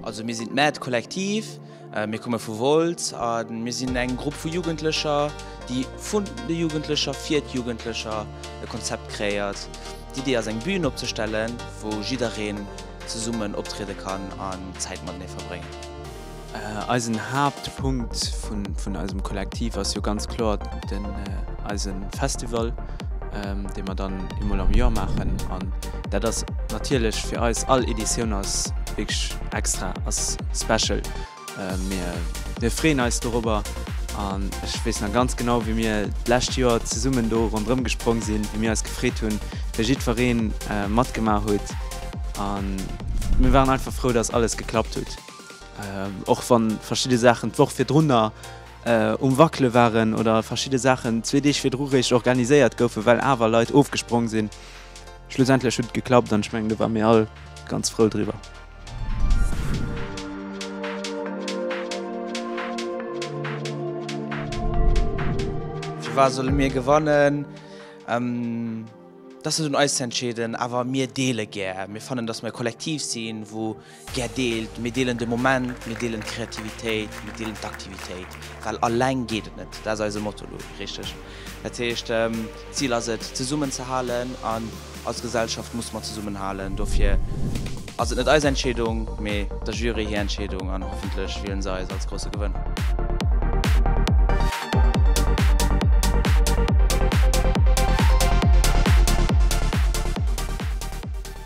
Also mir sinn d'Mad Kollektiv, äh, mir komme vu Wolz a mir sinn eng Grupp vu Jugendlecher, déi vun de Jugendlecher fir d'Jugendlecher e Konzept kreéiert. D'Idee ass eng Bühn opzestellen, wou jiddereen zesummen optriede kann an Zäit matenee verbréngen. Eisen Haaptpunkt vun eisem Kollektiv ass jo ganz kloer den eise Festival, dee mer dann eemol am Joer maachen. An dat ass natierlech fir eis, all Editioun ass wierklech extra, ass special. Mir freeën eis dorobber an ech weess nach ganz genau, wéi mir d'lescht Joer zesummen do ronderëm gesprong sinn, wéi mir eis gefreet hunn, wéi jiddweree matgemaach huet. A mir waren einfach frou, dass alles geklappt huet. Och wann verschidde Saachen d'Woch virdrunner um wackele waren oder verschidde Saachen zwee Deeg virdru réischt organiséiert goufen, well awer Leit ofgesprong sinn, schlussendlech huet et geklappt an ech mengen do ware mir all ganz frou driwwer. Firwat solle mir gewannen? Dat ass net un eis ze entscheeden, awer mir deele gär. Mir fannen, datt mir e Kollektiv sinn, wou Gär deelt. Mir deelen de Moment, mir deelen d'Kreativitéit, mir deelen d'Aktivitéit, well alleng geet et net. Dat ass eise Motto elo, richteg? Dat heescht, d'Zil ass et, zesummen ze halen an als Gesellschaft musse mer zesummen halen. Dofir ass et net eis Entscheedung, mee der Jury hir Entscheedung an hoffentlech wielen se eis als grousse Gewënner.